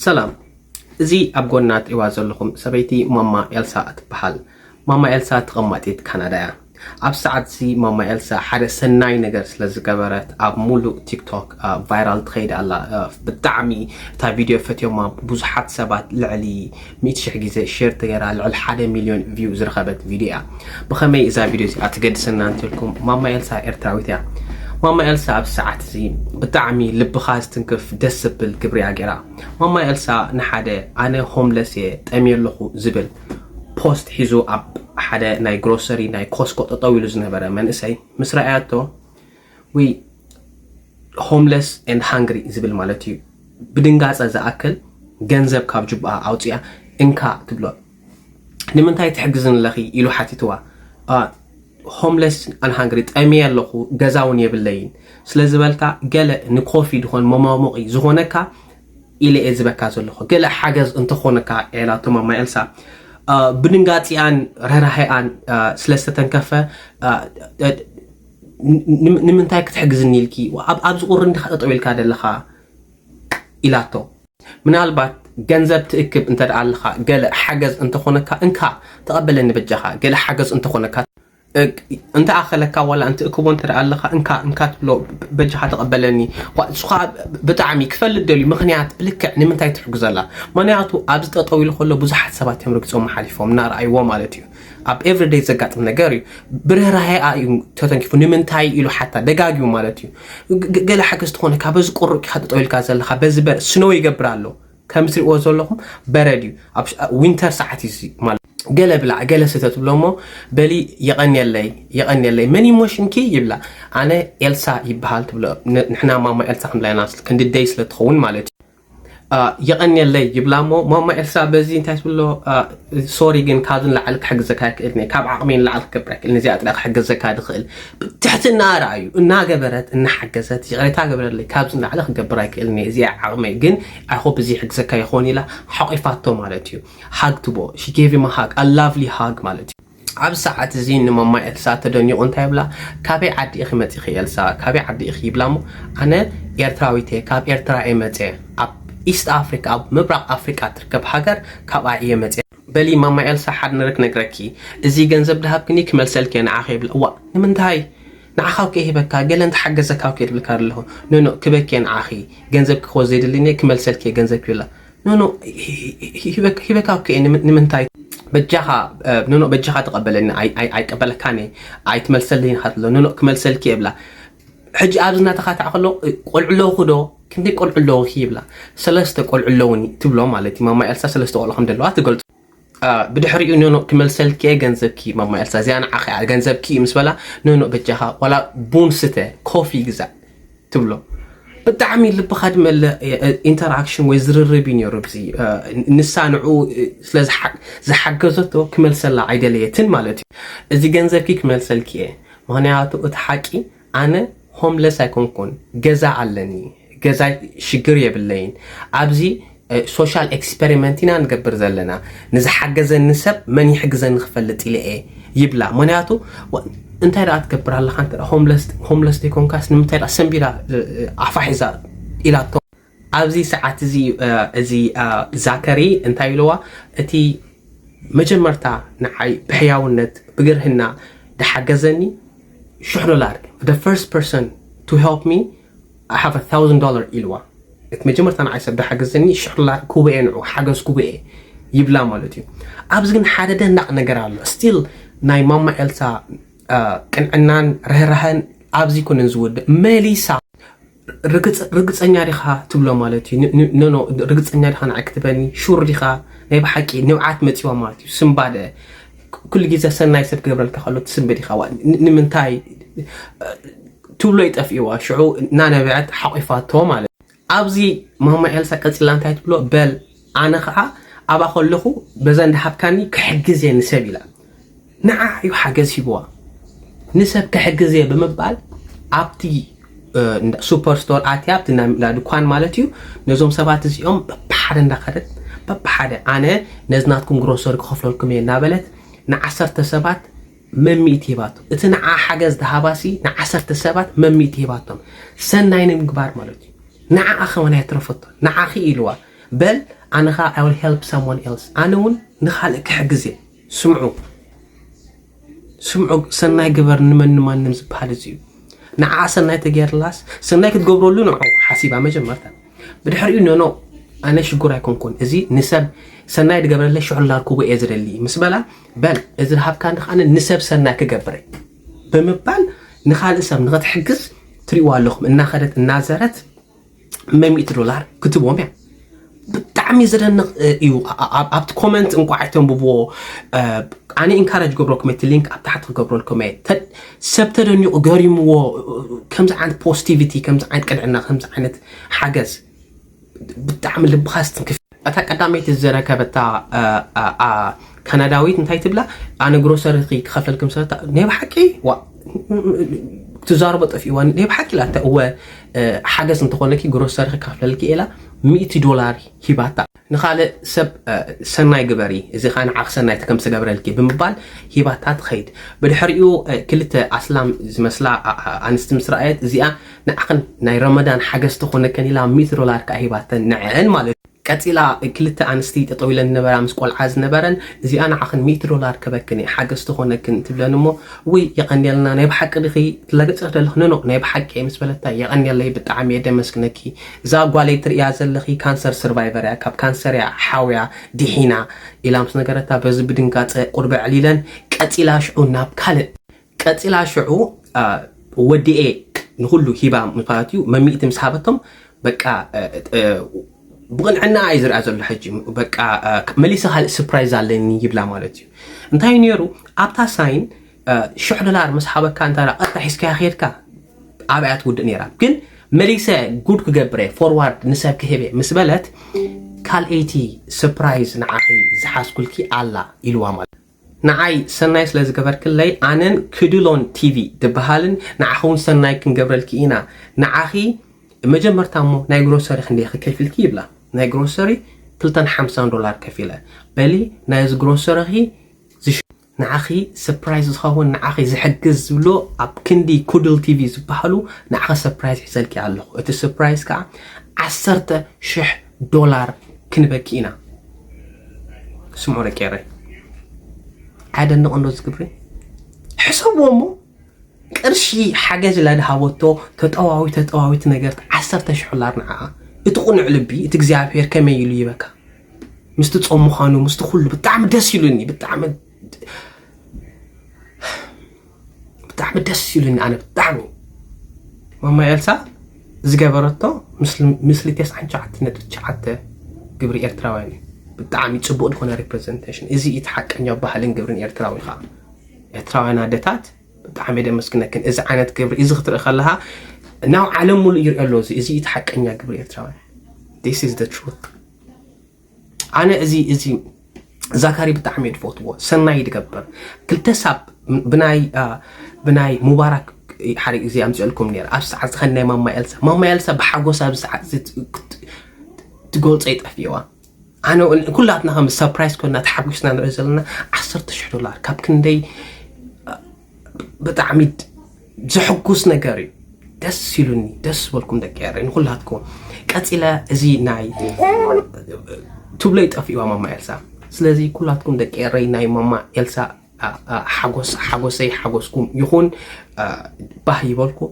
ሰላም እዚ ኣብ ጎና ትሪእዋ ዘለኹም ሰበይቲ ማማ ኤልሳ ትበሃል። ማማ ኤልሳ ተቐማጢት ካናዳ እያ። ኣብዚ ሰዓት እዚ ማማ ኤልሳ ሓደ ሰናይ ነገር ስለ ዝገበረት ኣብ ሙሉእ ቲክቶክ ቫይራል ትኸይድ ኣላ። ብጣዕሚ እታ ቪድዮ ፈትዮማ ብዙሓት ሰባት ልዕሊ ሚእቲ ሽሕ ግዜ ሼር ተገይራ ልዕሊ ሓደ ሚልዮን ቪው ዝረኸበት ቪድዮ እያ። ብኸመይ እዛ ቪድዮ እዚኣ ትገድሰና እንተልኩም ማማ ኤልሳ ኤርትራዊት እያ። ማማ ኤልሳ ኣብዚ ሰዓት እዚ ብጣዕሚ ልብኻ ዝትንክፍ ደስ ዘብል ግብሪ እያ ገይራ። ማማ ኤልሳ ንሓደ ኣነ ሆምለስ እየ ጠምየ ኣለኹ ዝብል ፖስት ሒዙ ኣብ ሓደ ናይ ግሮሰሪ ናይ ኮስኮ ጠጠው ኢሉ ዝነበረ መንእሰይ ምስ ረኣያቶ ወይ ሆምለስ ኤንድ ሃንግሪ ዝብል ማለት እዩ ብድንጋፀ ዝኣክል ገንዘብ ካብ ጁብኣ ኣውፅኣ እንካ ትብሎ ንምንታይ ትሕግዝን ኣለኺ ኢሉ ሓቲትዋ ሆምለስ ኣን ሃንግሪ ጠሚየ ኣለኹ ገዛ እውን የብለይን ስለ ዝበልካ ገለ ንኮፊ ድኾን መማሙቂ ዝኾነካ ኢለ እየ ዝበካ ዘለኹ ገለ ሓገዝ እንተኾነካ ኤላቶ ማማ ኤልሳ ብድንጋፂኣን ረራሒኣን ስለ ዝተተንከፈ ንምንታይ ክትሕግዝኒ ኢልኪ ኣብዚ ቁሪ እንዲኻ ጠጠው ኢልካ ዘለኻ ኢላቶ። ምናልባት ገንዘብ ትእክብ እንተድኣ ኣለኻ ገለ ሓገዝ እንተኾነካ እንካ ተቐበለኒ በጃኻ ገለ ሓገዝ እንተኾነካ እንተኣኸለካ ዋላ እንትእክቦ እንተድኣ ኣለኻ እንካ እንካ ትብሎ በጃኻ ተቐበለኒ እሱ ከዓ ብጣዕሚ ክፈልጥ ደልዩ ምኽንያት ብልክዕ ንምንታይ ትሕግዘላ ምኽንያቱ ኣብዚ ጠጠው ኢሉ ከሎ ብዙሓት ሰባት እዮም ረጊፆም ሓሊፎም እናረኣይዎ ማለት እዩ ኣብ ኤቭሪ ደይ ዘጋጥም ነገር እዩ ብርህራሄኣ እዩ ተተንኪፉ ንምንታይ ኢሉ ሓታ ደጋጊሙ ማለት እዩ ገለ ሓገዝ ትኾነካ በዚ ቁሩብ ኢኻ ጠጠው ኢልካ ዘለኻ በዚ በር ስኖ ይገብር ኣሎ ከም ትሪእዎ ዘለኹም በረድ እዩ ኣብ ዊንተር ሰዓት እዩ ማለት ገለ ብላዕ ገለ ስተ ትብሎ እሞ በሊ የቐንየለይ የቐንየለይ መን ኢሞሽንኪ ይብላ ኣነ ኤልሳ ይበሃል ትብሎ ንሕና ማማ ኤልሳ ክንብላ ኢና ክንዲ ደይ ስለ ትኸውን ማለት እዩ የቐንየለይ ይብላ እሞ ማማ ኤልሳ በዚ እንታይ ትብሎ ሶሪ ግን ካብዚ ንላዕሊ ክሕግዘካ ኣይክእልን እየ ካብ ዓቕመይ ንላዕሊ ክገብር ኣይክእልን እዚኣ ጥራይ ክሕገዘካ ድኽእል ብትሕትና ረኣዩ እናገበረት እናሓገዘት ይቕሬታ ገበረለይ ካብዚ ንላዕሊ ክገብር ኣይክእልን እየ እዚኣ ዓቕመይ ግን ኣይሆፕ እዚ ይሕግዘካ ይኸውን ኢላ ሓቂፋቶ ማለት እዩ ሃግ ትቦ ሺጌቪ መሃግ ኣላቭሊ ሃግ ማለት እዩ ኣብዚ ሰዓት እዚ ንማማ ኤልሳ ተደኒቑ እንታይ ይብላ ካበይ ዓዲ ኢኺ መፂኺ ኤልሳ ካበይ ዓዲ ኢኺ ይብላ እሞ ኣነ ኤርትራዊት እየ ካብ ኤርትራ እየ መፀ ኣብ ኢስት ኣፍሪካ ኣብ ምብራቕ ኣፍሪካ ትርከብ ሃገር ካብኣ እየ መፀ በሊ ማማ ኤልሳ ሓደ ነገር ክነግረኪ እዚ ገንዘብ ድሃብክኒ ክመልሰልኪ እየ ንዓኺ ይብላ እዋእ ንምንታይ ንዓኻ እኮ ሂበካ ገለ እንተሓገዘካ እኮ ይብልካ ኣለኹ ኖኖ ክበኪ እየ ንዓኺ ገንዘብኪ ክወስድ ዘይደልኒ ክመልሰልኪ እየ ገንዘብኪ ይብላ ኖኖ ሂበካ እኮ እየ ንምንታይ በጃኻ ኖኖ በጃኻ ተቐበለኒ ኣይቀበለካን እየ ኣይትመልሰለይን ኢኻ ትብሎ ኖኖ ክመልሰልኪ እየ ብላ ሕጂ ኣብዚ እናተኻትዐ ከሎ ቆልዑ ኣለውኹ ዶ ክንደይ ቆልዑ ኣለውኺ ይብላ ሰለስተ ቆልዑ ኣለውኒ ትብሎ ማለት እዩ ማማ ኤልሳ ሰለስተ ቆልዑ ከም ዘለዋ ትገልፆ ብድሕሪኡ ኖኖእ ክመልሰልኪ እየ ገንዘብኪ ማማ ኤልሳ እዚኣ ንዓኺ እያ ገንዘብኪ እዩ ምስ በላ ኖኖእ በጃኻ ዋላ ቡን ስተ ኮፊ ግዛእ ትብሎ ብጣዕሚ ልብኻ ድመለ ኢንተራክሽን ወይ ዝርርብ እዩ ነይሩ ብዚ ንሳ ንዕኡ ስለ ዝሓገዘቶ ክመልሰላ ኣይደለየትን ማለት እዩ እዚ ገንዘብኪ ክመልሰልኪ እየ ምክንያቱ እቲ ሓቂ ኣነ ሆምለስ ኣይኮንኩን ገዛ ኣለኒ ገዛ ሽግር የብለይን ኣብዚ ሶሻል ኤክስፐሪመንት ኢና ንገብር ዘለና ንዝሓገዘኒ ሰብ መን ይሕግዘኒ ክፈልጥ ኢለ እየ ይብላ ምክንያቱ እንታይ ደኣ ትገብር ኣለካ እንተ ሆምለስ ሆምለስ ዘይኮንካስ ንምንታይ ደኣ ሰንቢላ ኣፋ ሒዛ ኢላቶ ኣብዚ ሰዓት እዚ እዚ ዛከሪ እንታይ ኢልዋ እቲ መጀመርታ ንዓይ ብሕያውነት ብግርህና ድሓገዘኒ ሽሕ ዶላር the first person to help me I have a thousand dollar ኢልዋ እቲ መጀመርታ ንዓይ ሰብ ድሓገዘኒ ሽሕ ዶላር ኩበኤ ንዑ ሓገዝ ኩበኤ ይብላ ማለት እዩ ኣብዚ ግን ሓደ ደናቕ ነገር ኣሎ ስቲል ናይ ማማ ኤልሳ ቅንዕናን ርህራህን ኣብዚ ኩንን ዝውድእ መሊሳ ርግጸኛ ዲኻ ትብሎ ማለት እዩ ኖኖ ርግጸኛ ዲኻ ንዓይ ክትበኒ ሹር ዲኻ ናይ ብሓቂ ንብዓት መጺዋ ማለት እዩ ስምባደ ኩሉ ግዜ ሰናይ ሰብ ገብረልካ ከሎ ትስምቢ ዲኻ ንምንታይ ትብሎ ይጠፍእዋ ሽዑ እናነበዐት ሓቂፋቶ ማለት ኣብዚ ማማ ኤልሳ ቀጽላ እንታይ ትብሎ በል ኣነ ከኣ ኣብኣ ከለኹ በዛ እንዳሃብካኒ ክሕግዝ እየ ንሰብ ኢላ ንዓኣ እዩ ሓገዝ ሂብዋ ንሰብ ክሕግዝ እየ ብምባል ኣብቲ ሱፐር ስቶር ኣትያ ኣብቲ እንዳ ድኳን ማለት እዩ ነዞም ሰባት እዚኦም በብሓደ እንዳኸደት በብሓደ ኣነ ነዚ ናትኩም ግሮሰሪ ክኸፍለልኩም እየ እናበለት ንዓሰርተ ሰባት መሚእቲ ሂባቶ እቲ ንዓ ሓገዝ ዝሃባሲ ንዓሰርተ ሰባት መሚእቲ ሂባቶም ሰናይ ንምግባር ማለት እዩ ንዓኣ ከመን ኣየትረፈቶ ንዓኺ ኢልዋ በል ኣነ ከኣ I will help someone else ኣነ ውን ንካልእ ክሕግዝ እየ ስምዑ ስምዑ ሰናይ ግበር ንመን ንማንም ዝበሃል እዚ እዩ ንዓ ሰናይ ተገይርላስ ሰናይ ክትገብረሉ ንዑ ሓሲባ መጀመርታ ብድሕሪኡ ኖኖ ኣነ ሽጉር ኣይኮንኩን እዚ ንሰብ ሰናይ ድገብረለ ሽዑ ላርክቦ እየ ዝደሊ ምስ በላ በል እዚ ዝሃብካ ንከኣ ንሰብ ሰናይ ክገብረ ብምባል ንካልእ ሰብ ንክትሕግዝ ትሪእዋ ኣለኹም እናኸደት እናዘረት መሚእቲ ዶላር ክትቦም እያ ብጣዕሚ ዘደንቕ እዩ ኣብቲ ኮመንት እንቋዕ ኣይተንብብዎ ኣነ ኢንካረጅ ገብረኩም እቲ ሊንክ ኣብ ታሕቲ ክገብረልኩም እየ ሰብ ተደኒቑ ገሪምዎ ከምዚ ዓይነት ፖስቲቪቲ ከምዚ ዓይነት ቅንዕና ከምዚ ዓይነት ሓገዝ ብጣዕሚ ልብኻ ስትንክፍ እታ ቀዳመይቲ ዝረከበታ ካናዳዊት እንታይ ትብላ ኣነ ግሮሰሪኺ ክኸፈልክም ሰታ ናይ ብሓቂ ዋእ ትዛረቦ ጠፊእዋ ናይ ብሓቂ ኢላ እተ እወ ሓገዝ እንተኾነኪ ግሮሰሪኺ ክኸፍለልኪ ኢላ ሚእቲ ዶላር ሂባታ ንኻልእ ሰብ ሰናይ ግበሪ እዚ ከዓ ንዓኽ ሰናይ እቲ ከም ዝተገብረልኪ ብምባል ሂባታ ትኸይድ ብድሕሪኡ ክልተ ኣስላም ዝመስላ ኣንስቲ ምስ ረኣየት እዚኣ ንዓኽን ናይ ረመዳን ሓገዝ ትኾነከን ኢላ ሚእቲ ዶላር ከኣ ሂባተን ንዐኣን ማለት እዩ። ቀጺላ ክልተ ኣንስቲ ጠጠው ኢለን ዝነበራ ምስ ቆልዓ ዝነበረን እዚኣ ንዓኽን ሚእቲ ዶላር ክህበክን እየ ሓገዝ ትኾነክን ትብለን እሞ ውይ የቐንየልና ናይ ብሓቂ ድኺ ትለግጽኽ ደለኽ ኖኖ ናይ ብሓቂ እየ ምስ በለታ የቐንየለይ ብጣዕሚ እየ ደመስግነኪ እዛ ጓለይ ትርእያ ዘለኺ ካንሰር ስርቫይቨር እያ ካብ ካንሰር እያ ሓውያ ዲሒና ኢላ ምስ ነገረታ በዚ ብድንጋጸ ቁርብ ዕሊለን ቀጺላ ሽዑ ናብ ካልእ ቀጺላ ሽዑ ወዲኤ ንኹሉ ሂባ ምኽንያት እዩ መሚእቲ ምስ ሃበቶም በቃ ብቕንዕና እዩ ዝርኣ ዘሎ ሕጂ በቃ መሊሰ ካልእ ስፕራይዝ ኣለኒ ይብላ ማለት እዩ እንታይ ነይሩ ኣብታ ሳይን ሽሕ ዶላር ምስ ሓበካ እንተ ቀጥታ ሒዝካያ ከድካ ኣብያ ትውድእ ነይራ ግን መሊሰ ጉድ ክገብረ ፎርዋርድ ንሰብ ክህበ ምስ በለት ካልኣይቲ ስፕራይዝ ንዓኺ ዝሓዝኩልኪ ኣላ ኢልዋ ማለት ንዓይ ሰናይ ስለ ዝገበርክለይ ኣነን ክድሎን ቲቪ ድብሃልን ንዓኺ ውን ሰናይ ክንገብረልኪ ኢና ንዓኺ መጀመርታ እሞ ናይ ግሮሰሪ ክንደይኺ ከፊልኪ ይብላ ናይ ግሮሰሪ ክልተን ሓምሳን ዶላር ከፊለ በሊ ናይዚ ግሮሰሪኺ ዝሽ ንዓኺ ሰፕራይዝ ዝኸውን ንዓኺ ዝሕግዝ ዝብሎ ኣብ ክንዲ ኩድል ቲቪ ዝበሃሉ ንዓኺ ሰፕራይዝ ሒዘልኪ ኣለኹ እቲ ሰፕራይዝ ከዓ ዓሰርተ ሽሕ ዶላር ክንበኪ ኢና ስምዑ ደቂ ኤረይ ኣየደንቕ እንዶ ዝግብሪ ሕሰብዎ እሞ ቅርሺ ሓገዝ ኢላ ድሃበቶ ተጠዋዊ ተጠዋዊት ነገርት ዓሰርተ ሽሕ ዶላር ንዓኣ እቲ ቁኑዕ ልቢ እቲ እግዚኣብሄር ከመይ ኢሉ ይበካ ምስቲ ጾም ምዃኑ ምስቲ ኩሉ ብጣዕሚ ደስ ኢሉኒ ብጣዕሚ ብጣዕሚ ደስ ኢሉኒ ኣነ ብጣዕሚ ማማ ኤልሳ ዝገበረቶ ምስሊ ተስዓን ሸዓተ ነጥቢ ሸዓተ ግብሪ ኤርትራውያን እዩ ብጣዕሚ ፅቡቅ ዝኾነ ሪፕሬዘንቴሽን እዚ እቲ ሓቀኛ ባህልን ግብርን ኤርትራዊ ከዓ ኤርትራውያን ኣደታት ብጣዕሚ ደመስግነክን እዚ ዓይነት ግብሪ እዚ ክትርኢ ከለካ ናብ ዓለም ሙሉእ ይርኦ ኣሎ እዚ እዚ እቲ ሓቀኛ ግብሪ ኤርትራውያን ስ ኣነ እዚ እዚ ዛካሪ ብጣዕሚ እየ ዝፈትዎ ሰናይ ዝገብር ክልተ ሳብ ብናይ ብናይ ሙባራክ ሓደ ግዜ ኣምፅኦልኩም ነይረ ኣብ ሰዓት ዝኸን ናይ ማማ ኤልሳ ማማ ኤልሳ ብሓጎስ ኣብ ሰዓት ትገልፆ ይጠፍዋ ኣነ ኩላትና ከም ሰፕራይዝ ኮና ተሓጒስና ንሪኦ ዘለና ዓሰርተ ሽሕ ዶላር ካብ ክንደይ ብጣዕሚ ዘሕጉስ ነገር እዩ ደስ ኢሉኒ ደስ በልኩም ደቂ ኤረ ንኩላትኩም ቀፂለ እዚ ናይ ቱብለይ ጠፊእዋ ማማ ኤልሳ ስለዚ ኩላትኩም ደቂ ኤረይ ናይ ማማ ኤልሳ ሓጎስ ሓጎሰይ ሓጎስኩም ይኹን ባህ ይበልኩም